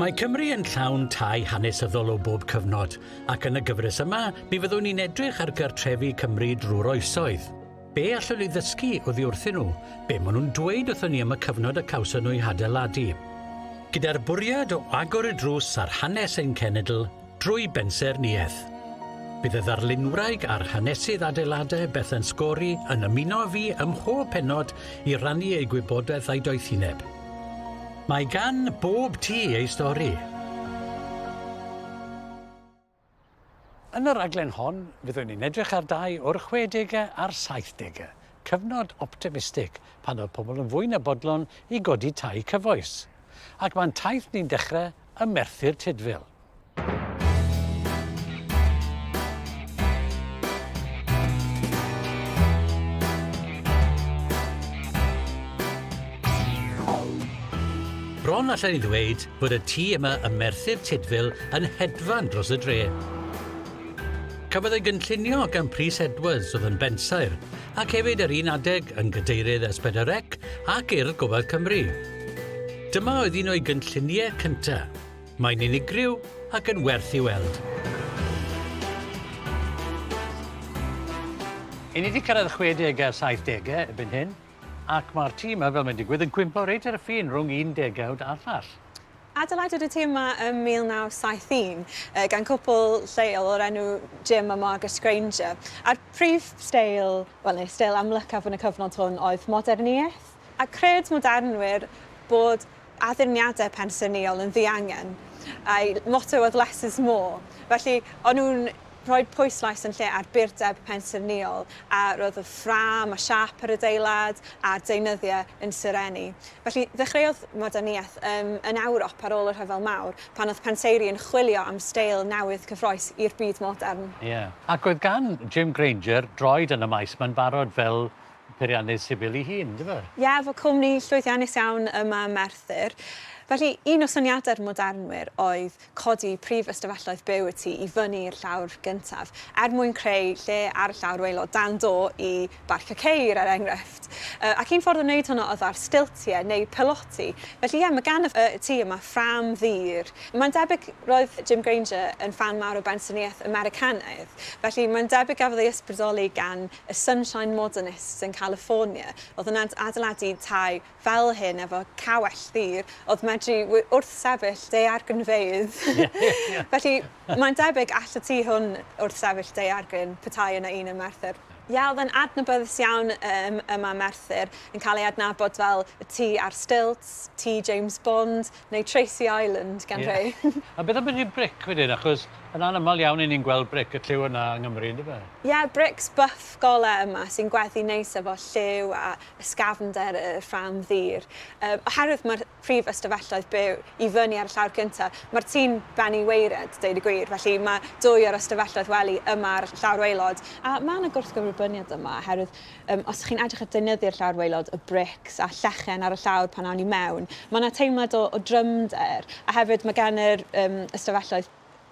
Mae Cymru yn llawn tai hanesyddol o bob cyfnod, ac yn y gyfres yma, mi fyddwn ni'n edrych ar gartrefi Cymru drwy'r oesoedd. Be allwn ni ddysgu oddi wrthyn nhw? Be maen nhw'n dweud wrthyn ni am y cyfnod y cawson nhw'i hadeiladu? Gyda'r bwriad o agor y drws ar hanes ein cenedl, Drwy bensaernïaeth. Bydd y ddarlunwraig a'r hanesydd adeiladau Bethan Scory yn ymuno â fi ym mhob pennod i rannu ei gwybodaeth a'i doethineb. Mae gan bob tŷ ei stori. Yn y rhaglen hon, fyddwn ni'n edrych ar dai o'r chwedegau a'r saithdegau, cyfnod optimistig pan oedd pobl yn fwy na bodlon i godi tai cyfoes. Ac mae'n taith ni'n dechrau ym Merthyr Tudful. Bron allwn i ddweud bod y tŷ yma ym Merthyr Tudful yn hedfan dros y dre. Cafodd ei gynllunio gan Prys Edwards oedd yn bensaer, ac hefyd yr un adeg yn gadeirydd Esbedyrec ac Urdd Gofal Cymru. Dyma oedd un o'i gynlluniau cyntaf. Mae'n unigryw ac yn werth ei weld. I ni 'di cyrraedd y chwedegau a'r saithdegau erbyn hyn, ac mae'r tîm yma, fel mae'n digwydd, yn cwympo reit ar y ffin rhwng un degawd a'r llall. Adeiladwyd y tîm yma ym 1971 gan cwpl lleol o'r enw Jim a Margaret Grainger, a'r prif steil, wel neu steil amlycaf yn y cyfnod hwn oedd moderniaeth. A chred modernwyr bod addurniadau pensaernïol yn ddiangen, a'u motto oedd 'less is more', felly o'n nhw'n rhoi pwyslais yn lle ar burdeb pensaernïol, a roedd y ffrâm a siâp yr adeilad a'r deunyddiau yn serennu. Felly ddechreuodd Moderniaeth ym yn Ewrop ar ôl y Rhyfel Mawr, pan oedd penseiri yn chwilio am steil newydd cyffrous i'r byd modern. Ie. Ac oedd gan Jim Granger droed yn y maes mae'n barod fel peiriannydd sifil ei hun, yndyfe? Ie, efo cwmni llwyddiannus iawn ym Mae Merthyr. Felly, un o syniadau'r modernwyr oedd codi prif ystafelloedd byw y tŷ i fyny i'r llawr gyntaf, er mwyn creu lle ar y llawr waelod dan do i barcio ceir, er enghraifft. Ac un ffordd o wneud hwnna oedd ar stiltiau neu piloti. Felly, ie, mae gan y tŷ yma ffrâm ddur. Mae'n debyg roedd Jim Granger yn ffan mawr o bensarniaeth Americanaidd, felly mae'n debyg gafodd ei ysbrydoli gan y Sunshine Modernists yn California oedd yn adeiladu tai fel hyn efo cawell ddur oedd medru wrthsefyll daeargrynfeydd. Felly, mae'n debyg all y tu hwn wrthsefyll daeargryn, petai yna un ym Merthyr. Ie, oedd e'n adnabyddus iawn ym Merthyr, yn cael ei adnabod fel y tŷ ar stilts, tŷ James Bond, Neu Tracy Island gan rhei. A beth am brynu bric wedyn, achos yn anaml iawn i ni'n gweld bric y lliw yna yng Nghymru, yn dyfe? Ie, brics buff golau yma sy'n gweddu neis efo lliw a ysgafnder y rhan ddur. Yym, oherwydd mae'r prif ystafelloedd byw i fyny ar y llawr cyntaf, mae'r tŷ'n bennu waered, deud y gwir, felly mae dwy o'r ystafelloedd wely yma ar y llawr waelod. A mae 'na gwrthgyferbyniad yma, oherwydd Yym, os chi'n edrych a deunyddi'r llawr waelod y brics a llechen ar y llawr pan awn ni mewn, ma' 'na teimlad o o drymder, a hefyd ma' gan yr yym ystafelloedd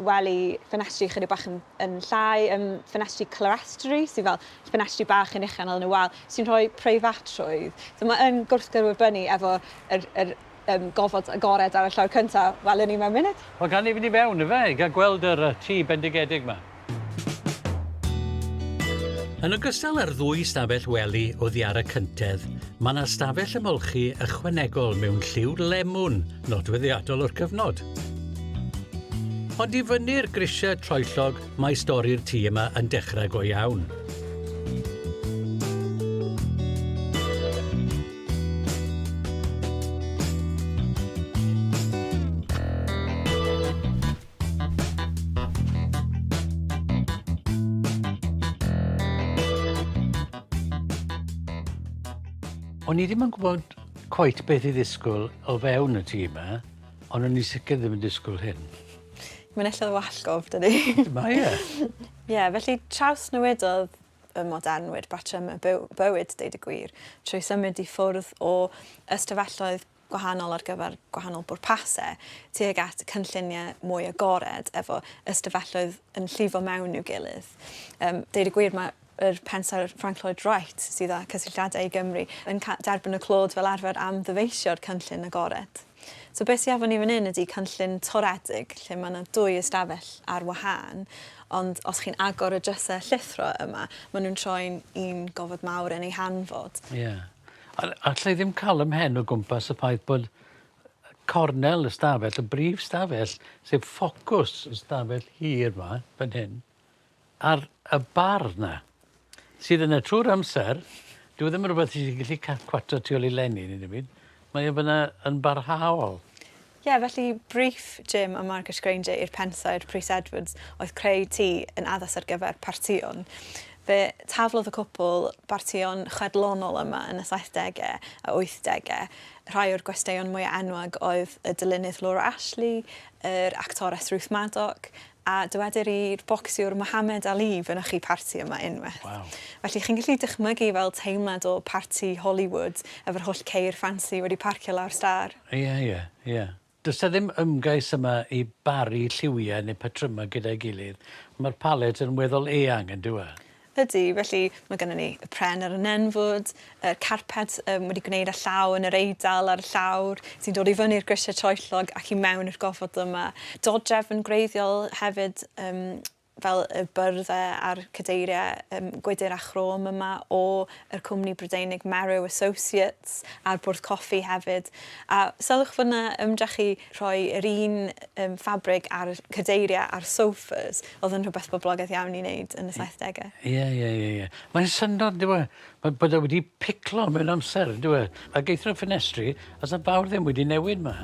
wely ffenestri chydig bach yn yn llai, yym ffenestri clerestory sy fel ffenestri bach yn uchel yn y wal sy'n rhoi preifatrwydd. So ma' yn gwrthgyrwybynnu efo yr yr Yym, gofod agored ar y llawr cynta', welwn ni mewn munud. Wel, gawn ni fynd i fewn, ife, i gael gweld yr yy tŷ bendigedig 'ma. Yn ogystal â'r ddwy stafell wely oddi ar y cyntedd, mae 'na stafell ymolchi ychwanegol mewn lliw lemwn nodweddiadol o'r cyfnod. Ond i fyny'r grisiau troellog mae stori'r tŷ yma yn dechrau go iawn. O'n i ddim yn gwybod cweit beth i ddisgwyl o fewn y tîm yma, ond o'n i sicr ddim yn disgwyl hyn. Mae'n ella wallgof, dydy? Mae e. Ie, felly traws newidodd y modernwyr patrymau byw, bywyd, deud y gwir, trwy symud i ffwrdd o ystafelloedd gwahanol ar gyfer gwahanol bwrpasau tuag at cynlluniau mwy agored efo ystafelloedd yn llifo mewn i'w gilydd. Um, deud y gwir, mae yr pensaer Frank Lloyd Wright sydd â cysylltiadau i Gymru yn derbyn y clod fel arfer am ddyfeisio'r cynllun agored. So be sy efo ni fan 'yn ydi canllyn toredig lle ma' 'na dwy ystafell ar wahân ond os chi'n agor y dryse llithro yma ma' nhw'n troi'n un gofod mawr yn ei hanfod. Ie. A alla i ddim ca'l 'ym mhen o gwmpas y ffaith bod cornel y 'stafell, y brif 'stafell, sef ffocws y 'stafell hir 'ma, fan hyn, ar y bar 'na sydd yna trwy'r amser dyw e ddim yn rwbeth ti 'di gellu ca- cwatsio tu ôl i lenni neu dim byd. Mae e fyna yn barhaol. Ie, felly briff Jim a Margaret Grainger i'r Pensaer, Prys Edwards, oedd creu tŷ yn addas ar gyfer partïon. Fe taflodd y cwpl bartïon chwedlonol yma yn y saithdegau a wythdegau. Rhai o'r gwesteion mwyaf enwog oedd y dylunydd Laura Ashley, yr actores Ruth Madoc, A dywedir i'r bocsiwr Mohammed Ali fynychu parti yma unwaith. Waw. Felly chi'n gallu dychmygu fel teimlad o parti Hollywood efo'r holl ceir ffansi wedi parcio lawr stâr. Ie, ie, ie. Does 'na ddim ymgais yma i baru lliwiau neu patrymau gyda'i gilydd, mae'r palet yn weddol eang, yn dyw e? Ydy, felly mae gennym ni y pren ar y nenfwd, y carped um, wedi gwneud â llaw yn yr eidal a'r llawr sy'n dod i fyny'r grisiau troellog ac i mewn i'r gofod yma. Dodrefn gwreiddiol hefyd um, fel y byrddau a'r cadeiriau um, gwydr a chrom yma o yr cwmni Brydeinig Merrow Associates a'r bwrdd coffi hefyd. A sylwch fod yna ymdrech i rhoi yr un um, ffabrig ar cadeiriau a'r sofas Oedd yn rhywbeth boblogaidd iawn i wneud yn y saithdege. Ie ie ie ie. Mae'n syndod dyw e? Mae bod e wedi piclo mewn amser dyw e? Ac eithrio ffenestri a sa fawr ddim wedi newid ma.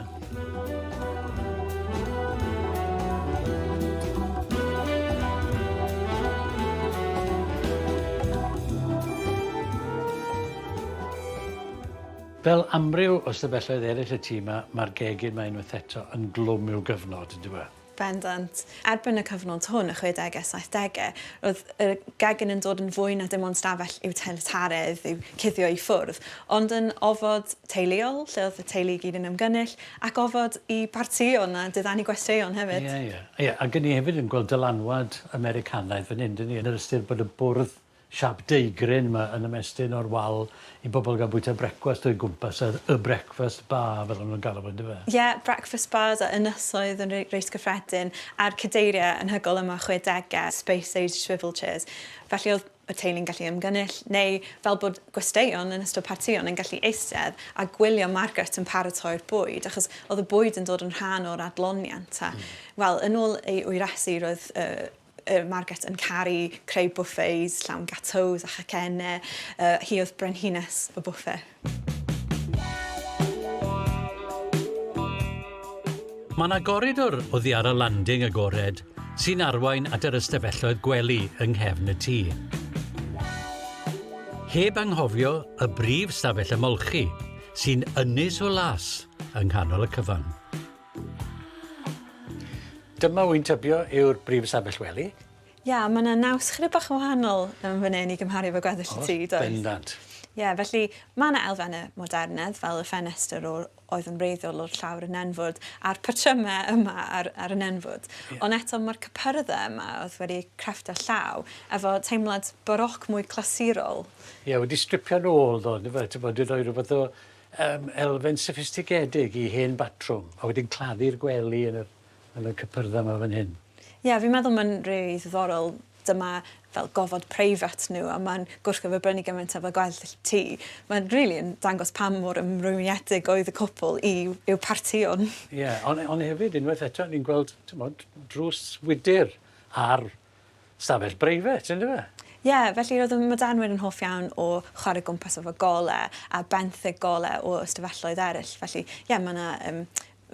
Fel amryw o stafelloedd eraill y tŷ 'ma, mae'r gegin 'ma unwaith eto yn glwm i'w gyfnod, yndyw e? Bendant. Erbyn y cyfnod hwn, y chwedegau, saithdegau, roedd y gegin yn dod yn fwy na dim ond stafell iwtilitaredd i'w cuddio i ffwrdd, ond yn ofod teuluol, lle oedd y teulu i gyd yn ymgynnull, ac ofod i bartïon a diddanu gwesteion hefyd. Ie, ie. Ie, ac 'yn ni hefyd yn gweld dylanwad Americanaidd fan hyn, 'dyn ni, yn yr ystyr bod y bwrdd Siap deugryn mae yn ymestyn o'r wal i bobl gael bwyta brecwast o'i gwmpas, yr y breakfast bar fel o'n nhw'n galw fo yndyfe? Ie, breakfast bars a ynysoedd yn re- reit gyffredin, a'r cadeiriau anhygoel yma chwedegau, space age swivel chairs, felly oedd y teulu'n gallu ymgynnull, neu fel bod gwesteion yn ystod partïon yn gallu eistedd a gwylio Margaret yn paratoi'r bwyd, achos oedd y bwyd yn dod yn rhan o'r adloniant, a wel, yn ôl ei ŵyresu roedd y Y Margate yn caru creu buffets llawn gateaus a chacennau. Uh, hi oedd brenhines y bwffe. Mae yna goridor o ddiara landing agored sy'n arwain at yr ystafelloedd gwely yng nghefn y tŷ. Heb anghofio y brif stafell ymolchi sy'n ynys o las yng nghanol y cyfan. Dyma wy'n tybio yw'r brif ystafell wely. Ia, mae yna naws chydig bach yn wahanol yn fan hyn i gymharu efo gweddill y tŷ, does? Bendant. Ie, felly mae yna elfennau modernedd fel y ffenestr o'r oedd yn wreiddiol o'r llawr yn nenfwd a'r patrymau yma ar, ar y nenfwd. Yeah. Ond eto mae'r cypyrddau yma oedd wedi crefft a llaw efo teimlad baroc mwy clasurol. Ie, yeah, wedi stripio'n ôl ddo, fe, ti'n bod, wedi rhoi rhywbeth o Yym, elfen soffistigedig i hen batrwm, a wedyn claddu'r gwely yn yr, yn y cypyrdda 'ma fan hyn. Ie, fi'n meddwl mae'n rili ddiddorol, dyma fel gofod preifat nhw a mae'n gwrthgyferbrynu gymaint â fel gweddill y tŷ. Mae'n rili yn dangos pa mor ymrwymiedig oedd y cwpl i i'w partïon. Ie, ond ond hefyd unwaith eto ni'n gweld, t'mod, drws wydr ar stafell breifat, yn dyfe? Ie, felly roedd y Madanwyr yn hoff iawn o chwarae gwmpas efo golau a benthyg golau o ystafelloedd eraill. Felly, ie, mae yna um,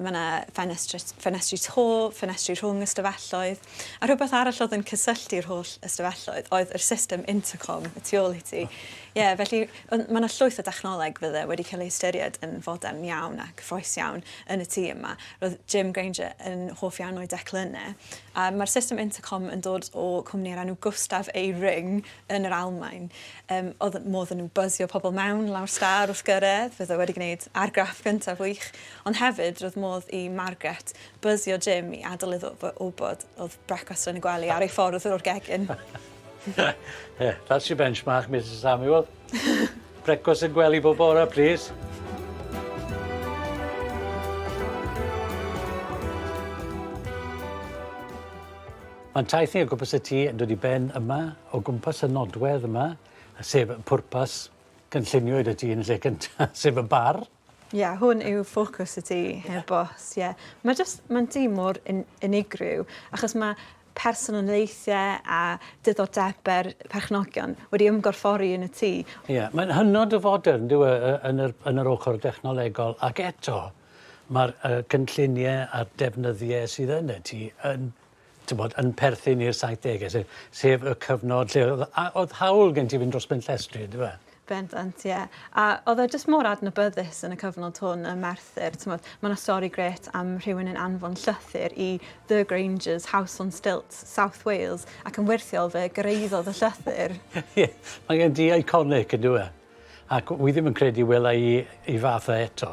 mae yna ffenestri, ffenestri to, ffenestri rhwng ystafelloedd, a rhywbeth arall oedd yn cysylltu'r holl ystafelloedd oedd yr system intercom y tu ôl i ti. Ie, yeah, felly mae yna llwyth o dechnoleg fydde wedi cael ei ystyried yn fodern iawn a cyffroes iawn yn y tîm yma. Roedd Jim Granger yn hoff iawn o'i declynnau, Yy, mae'r system intercom yn dod o cwmni ar enw Gustav A. Ring yn yr Almaen. Yym, oedd modd yn nhw buzio pobl mewn lawr star wrth gyrraedd, fydd o wedi gwneud argraff gyntaf wych, ond hefyd roedd modd i Margaret buzio Jim i adael iddo fo wybod oedd brecwast yn y gwely ar ei ffordd o'r gegin. yeah, that's your benchmark, Mrs Samuel. Brecwast yn gwely bob bore, please. Mae'n taith ni o gwmpas y tŷ yn dod i ben yma, o gwmpas y nodwedd yma, sef pwrpas gynllunio i dy tŷ yn lle cyntaf, sef y bar. Ie, hwn yw ffocws y tŷ, heb bost, ie. Mae jyst, mae'n dŷ mor un, unigryw, achos mae personoliaethau a diddordebau'r perchnogion wedi ymgorffori yn y tŷ. Ie, mae'n hynod o fodern, dyw e, yn yr, yn yr ochr dechnolegol, ac eto, mae'r uh, cynlluniau a'r defnyddiau sydd yn y tŷ yn t'mod, yn perthyn i'r saithdege se- sef y cyfnod lle o'dd a- o'dd hawl gen ti fynd dros ben llestri on'd yfe? Bendant ie. A o'dd e jyst mor adnabyddus yn y cyfnod hwn ym Merthyr t'mod ma' 'na stori grêt am rhywun yn anfon llythyr i The Granger's house on stilts, South Wales ac yn wyrthiol fe gyrraeddodd y llythyr. Ie mae e'n du iconic on'd yw e? Ac wi ddim yn credu wela i 'i fath o eto.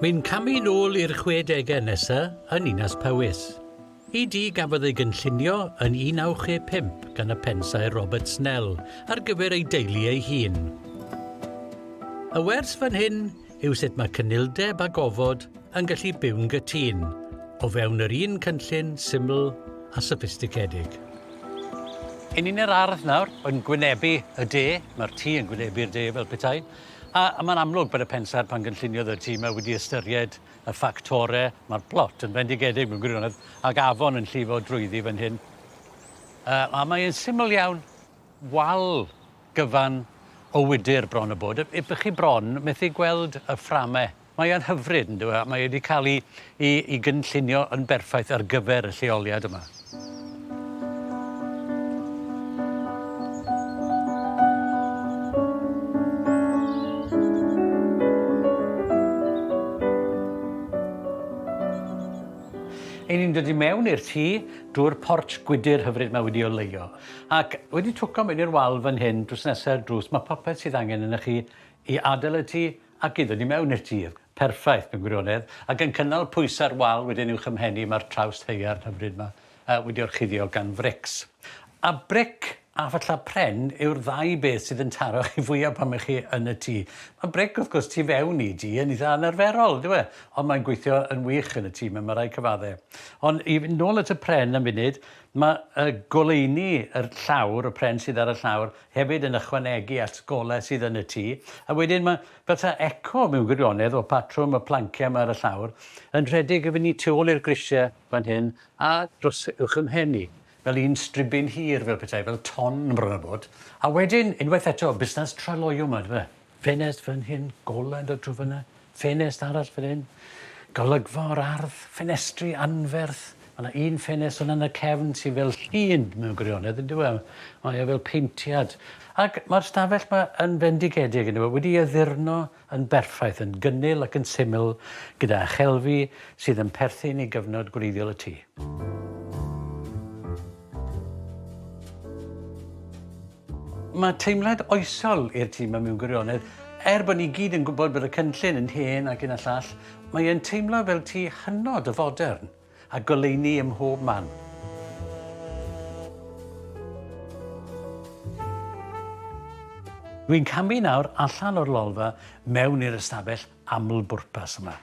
Mae'n camu nôl i'r chwedegau nesa yn Ninas Powys. Y du gafodd ei gynllunio yn 1965 gan y pensaer Robert Snell ar gyfer ei deulu ei hun. Y wers fan hyn yw sut mae cynildeb a gofod yn gallu byw'n gytûn o fewn yr un cynllun syml a soffistigedig. Hyn yn yr ardd nawr, yn gwynebu y de, mae'r tŷ yn gwynebu'r de fel petai, a, a mae'n amlwg bod y pensaer pan gynlluniodd y tŷ yma wedi ystyried y ffactorau, mae'r plot yn fendigedig mewn gwirionedd, ac afon yn llifo drwyddi fan hyn, uh, a mae'n syml iawn. wal gyfan o wydr bron a bod. Ych chi bron methu gweld y fframau. Mae e'n hyfryd yn dyw e, mae wedi cael ei, ei, ei gynllunio yn berffaith ar gyfer y lleoliad yma. Ein ni'n dod i mewn i'r tŷ drwy'r porch gwydr hyfryd mae wedi oleuo. Ac wedi twco mewn i'r wal fan hyn drws nesa i'r drws, mae popeth sydd angen ynoch chi i adael y tŷ ac i ddod i mewn i'r tŷ. Perffaith mewn gwirionedd, ac yn cynnal pwysau'r wal wedyn uwch 'y mhen i, mae'r trawst haearn hyfryd 'ma wedi orchuddio gan frics. A bric a phallau pren yw'r ddau beth sydd yn taro chi fwya pan mae chi yn y tŷ. Mae bric, wrth gwrs, tu fewn i dŷ yn eitha anarferol, yndyw e? Ond mae'n gweithio yn wych yn y tŷ 'ma, mae rhaid cyfaddau. Ond i fynd nôl at y pren am funud, Mae y goleuni, yr llawr, y pren sydd ar y llawr, hefyd yn ychwanegu at golau sydd yn y tŷ, a wedyn mae fel 'ta eco mewn gwirionedd o patrwm y planciau 'ma ar y llawr, yn rhedeg efo ni tu ôl i'r grisiau fan hyn a dros uwch 'y mhen i, fel un stribyn hir fel petai, fel ton bron a bod. A wedyn, unwaith eto, busnes traloyw 'ma, yndyfe? Ffenest fan hyn, golau yn dod trwy fyna, ffenest arall fan hyn, golygfa o'r ardd, ffenestri anferth. Mae yna un ffenest yna yn y cefn sy'n fel llun mewn gwirionedd, yn dyw e? Mae o fel peintiad. Ac mae'r stafell yma yn fendigedig, yn dyw e? Wedi addurno yn berffaith, yn gynnil ac yn syml, gyda chelfi sydd yn perthyn i gyfnod gwreiddiol y tŷ. Mae teimlad oesol i'r tîm yma mewn gwirionedd. Er bod ni gyd yn gwybod bod y cynllun yn hen ac un a llall, mae e'n teimlo fel tŷ hynod o fodern, a goleuni ym mhob man. Dwi'n camu nawr allan o'r lolfa mewn i'r ystafell aml-bwrpas yma,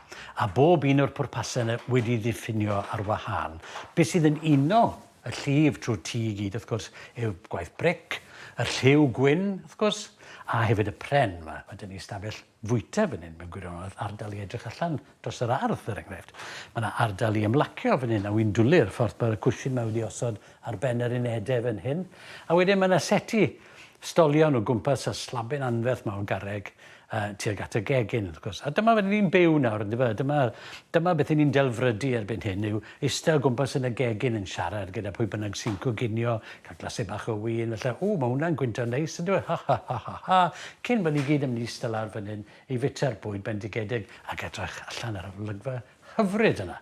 a bob un o'r pwrpasau yna wedi ei ddiffinio ar wahân. Be sydd yn uno Y llif trwy'r tŷ i gyd, wrth gwrs, yw gwaith bric, y lliw gwyn, wrth gwrs, a hefyd y pren. Mae, mae dyn ni stafell fwyta fan hyn mewn gwirionedd, ardal i edrych allan dros yr ardd, er enghraifft. Mae yna ardal i ymlacio fan hyn, a wy'n dwlu'r ffordd mae'r cwshin mae wedi osod ar ben yr unedau fan hyn. A wedyn mae yna seti Stolion o gwmpas y slabin anferth 'ma o garreg tuag at y gegin, wrth gwrs. A dyma fel 'yn ni'n byw nawr, yndyfe? A dyma, dyma beth 'yn ni'n delfrydu erbyn hyn, yw iste o gwmpas yn y gegin yn siarad gyda pwy bynnag sy'n coginio, cael glasur bach o win, falle, 'Ww, mae hwnna'n gwyntog neis, yndyw e? Ha, ha, ha, ha, ha! Cyn bod ni gyd yn mynd i iste lawr fan hyn i fwyta'r bwyd bendigedig ac edrych allan ar yr olygfa hyfryd yna.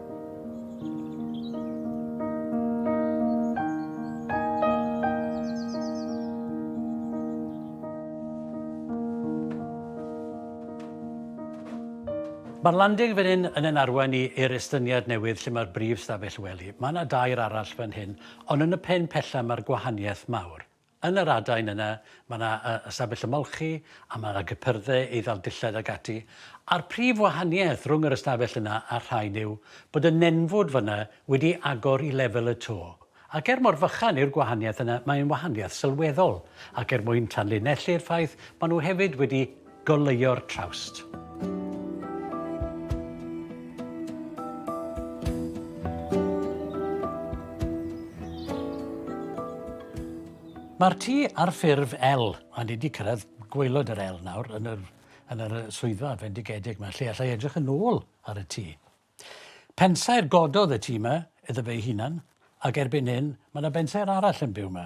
Mae'r landing fan hyn yn yn arwain i i'r estyniad newydd lle mae'r brif stafell wely. Mae yna dair arall fan hyn, ond yn y pen pella mae'r gwahaniaeth mawr. Yn yr adain yna, mae yna ystafell ymolchi, a mae yna gypyrdde, eiddail dillad ac ati. A'r prif wahaniaeth rhwng yr ystafell yna a'r rhain yw bod y nenfwd fan'na wedi agor i lefel y to. Ac er mor fychan yw'r gwahaniaeth yna, mae'n wahaniaeth sylweddol. Ac er mwyn tanlinellu'r ffaith, maen nhw hefyd wedi Goleuo'r trawst. Mae'r tŷ ar ffurf L, a ni wedi cyrraedd gwaelod yr L nawr yn yr, yn yr swyddfa fendigedig yma, lle allai edrych yn ôl ar y tŷ. Pensaer gododd y tŷ yma iddo fe'i hunan, ac erbyn hyn mae yna bensaer arall yn byw yma.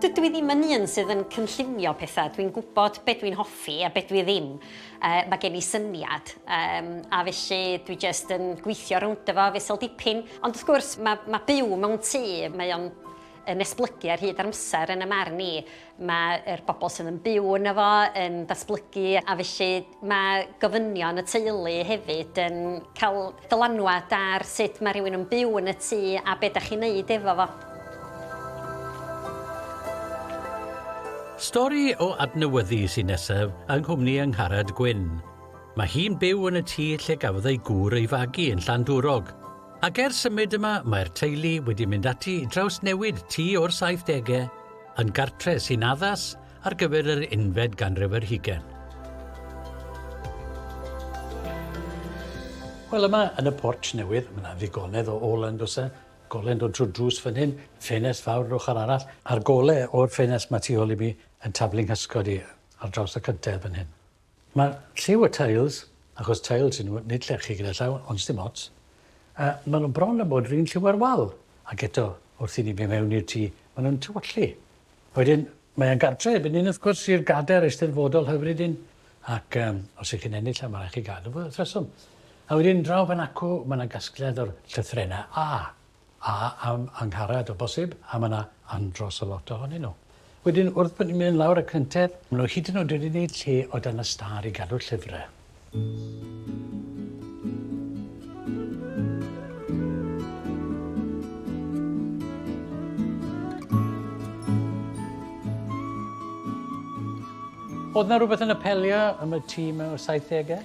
Dydw i ddim yn un sydd yn cynllunio pethau, dwi'n gwybod be dwi'n hoffi a be dwi ddim. Uh, mae gen i syniad, um, a felly dwi jyst yn gweithio rownd efo fesel dipyn. Ond wrth gwrs, mae, mae byw mewn tŷ, mae o'n yn esblygu ar hyd amser yn y marn i. mae'r bobl sydd yn byw yno fo yn datblygu a felly mae gofynion y teulu hefyd yn cael dylanwad ar sut mae rhywun yn byw yn y tŷ a be da chi'n neud efo fo. Stori o adnewyddu sy'n nesaf yng nghwmni Angharad Gwyn. Mae hi'n byw yn y tŷ lle gafodd ei gŵr ei fagu yn Llandwrog, ac ers symud yma mae'r teulu wedi mynd ati i drawsnewid tŷ o'r 70au, yn gartre sy'n addas ar gyfer yr unfed ganrif ar hugain. Wel yma yn y porch newydd, mae yna ddigonedd o ôl yn does e? Golen dod trwy drws fan hyn, ffenest fawr yr ochr arall, a'r gole o'r ffenest mae tu ôl i mi yn taflu nghysgod i ar draws y cyntedd fan hyn. Mae lliw y tiles, achos tiles y'n nhw, nid llechi gyda llaw, ond sdim ots, a maen nhw bron â bod yr un lliw â'r wal, ac eto, wrth i ni fynd mewn i'r tŷ, maen nhw'n tywyllu. A wedyn, mae e'n gartre erbyn hyn, wrth gwrs, i'r gadair eisteddfodol hyfryd hyn, ac os y'ch chi'n ennill e, mae'n rhaid chi gadw fo wrth reswm. A wedyn, draw fan acw, mae 'na gasgliad o'r llythrennau A. A am Angharad o bosib, a ma' 'na andros o lot ohonyn nhw. Wedyn wrth bo' ni'n mynd lawr y cyntedd, ma' nhw hyd yn o'd wedi neud lle o dan y stâr i gadw llyfre. O'dd 'na rwbeth yn apelio am y ti mewn y saithdege?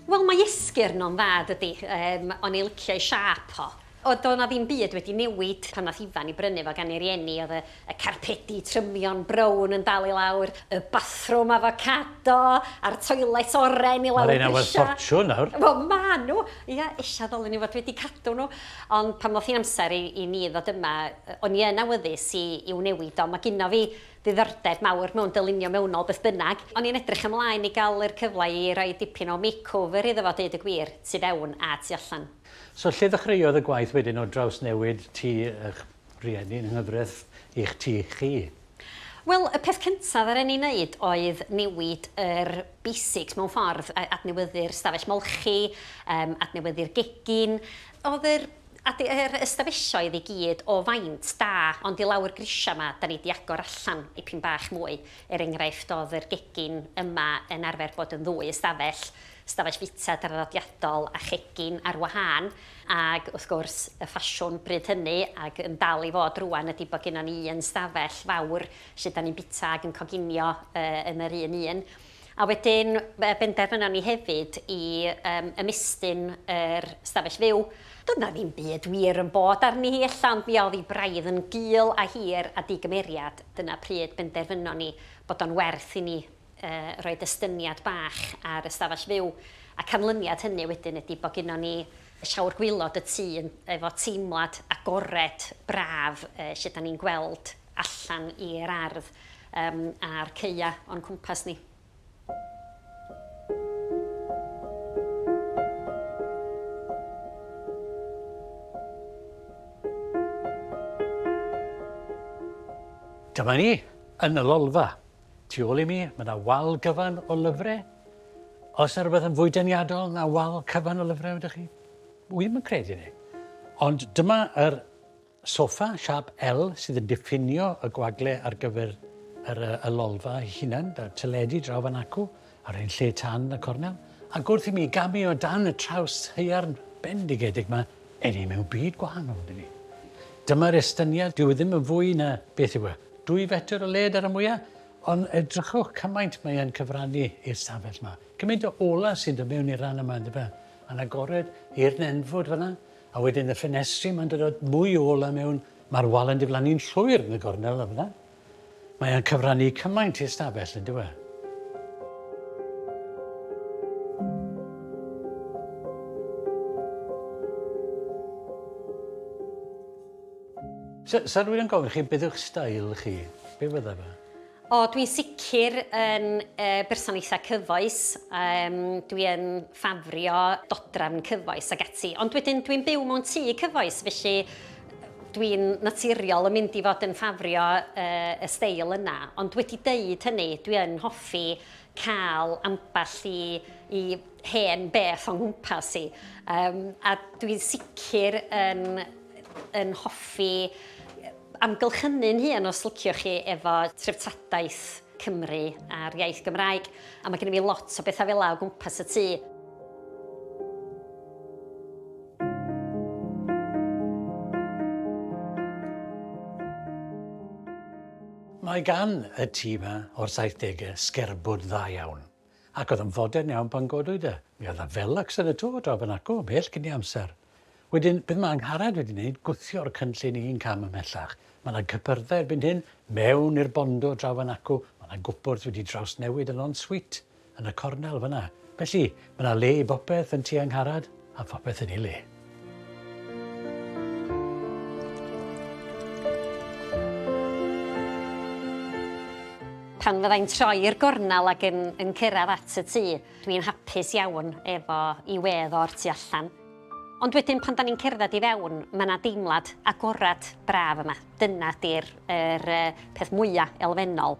Wel mae esgyrn o'n dda dydi? Yym o'n i licio ei siâp o. O, doedd 'na ddim byd wedi newid pan nath Ifan 'i brynu fo gan ei rieni, o'dd y y carpedi trymion brown yn dal i lawr, y bathrwm afocado, a'r toilets oren i lawr grisia. Ma' reina werth ffortiwn nawr. Wel ma' nhw! Ia, ella ddylwn ni fod wedi cadw nhw. Ond pan ddoth hi'n amser i i ni ddod yma, yy o'n i yn awyddus i i'w newid o, ma' gynno fi ddiddordeb mawr mewn dylunio mewnol beth bynnag. O'n i'n edrych ymlaen i ga'l yr cyfle i roi dipyn o makeover iddo fo deud y gwir, tu fewn a tu allan. So lle ddechreuodd y gwaith wedyn o drawsnewid tŷ y'ch rhieni yng nghyfraith i'ch tŷ chi? Wel, y peth cyntaf ddaru ni neud oedd newid yr basics mewn ffordd, a- adnewyddu'r stafell molchi, yym adnewyddu'r gegin. O'dd yr ade- yr ystafelloedd i gyd o faint da, ond i lawr grisia 'ma 'da ni 'di agor allan dipyn bach mwy. Er enghraifft, o'dd yr gegin yma yn arfer bod yn ddwy ystafell, stafell fita draddodiadol a chegin ar wahân, ac wrth gwrs, y ffasiwn bryd hynny, ac yn dal i fod rŵan, ydi bod gynnon ni un stafell fawr lle 'dan ni'n bita ac yn coginio yn yr un un. A wedyn, benderfynon ni hefyd i ymestyn yr stafell fyw. Doedd 'na ddim byd wir yn bod arni hi ella, ond mi oedd hi braidd yn gul a hir a di-gymeriad, dyna pryd benderfynon ni bod o'n werth i ni roed estyniad bach ar y stafell fyw, a canlyniad hynny wedyn ydi bod gynnon ni llawr gwaelod y tŷ yn efo teimlad agored, braf, lle 'dan ni'n gweld allan i'r ardd yym a'r caea' o'n cwmpas ni. Dyma ni yn y lolfa. Tu ôl i mi, mae yna wal gyfan o lyfrau. Os yna rhywbeth yn fwy deniadol na wal cyfan o lyfrau, ydych chi? Wi ddim yn credu ni. Ond dyma yr sofa siap L sydd yn diffinio y gwagle ar gyfer yr, y lolfa ei hunan, da teledu draw fan acw, Ar ein lle tan y cornel, ac wrth i mi gamu o dan y traws haearn bendigedig ma, eni ni mewn byd gwahanol ydyn ni. Dyma'r estyniad, dyw e ddim yn fwy na, beth yw e, dwy fetr o led ar y mwya, ond edrychwch cymaint mae e'n cyfrannu i'r stafell ma. Cymaint o ola sy'n dod mewn i'r rhan yma yndyfe? fe? A'n agored i'r nenfwd fanna, a wedyn y ffenestri ma'n dod mwy o ola mewn, mae'r wal yn diflannu'n llwyr yn y gornel yna. Mae e'n cyfrannu cymaint i'r stafell, yn dyw e? Sa, sa rwy'n gofyn chi, beth yw'ch stael chi? Be fydda fe? O, dwi'n sicr yn e, berson eitha cyfoes. Um, dwi'n ffafrio dodrafn cyfoes ag ati. Ond wedyn dwi'n byw mewn tŷ cyfoes, felly Dwi'n naturiol yn mynd i fod yn ffafrio y steil yna, ond wedi deud hynny, dwi yn hoffi cael ambell i i hen beth o'n nghwmpas i. Yym a dwi'n sicr yn yn hoffi amgylchynu'n hun, os liciwch chi, efo treftadaeth Cymru a'r iaith Gymraeg, a mae gennym ni lot o bethau fel yna o gwmpas y tŷ. Mae gan y tŷ 'ma o'r saithdegau sgerbwd dda iawn. Ac oedd yn fodern iawn pan godwyd e. Mi oedd 'na felacs yn y twf draw fan acw, ymhell cyn ei amser. Wedyn, beth mae Angharad wedi wneud, gwthio'r cynllun un cam ymhellach. Mae 'na gypyrdda erbyn hyn, mewn i'r bondo draw fan acw, mae 'na gwpwrdd wedi drawsnewid yn en-suite, yn y cornel fan'na. Felly, mae 'na le i bopeth yn tŷ Angharad, a phopeth yn ei le. pan fyddai'n troi i'r gornel ac yn, yn cyrraedd at y tŷ, dwi'n hapus iawn efo i wedd o'r tu allan. Ond wedyn pan da ni'n cerdded i fewn, mae yna deimlad agorad braf yma. Dyna di'r er, peth mwyaf elfennol.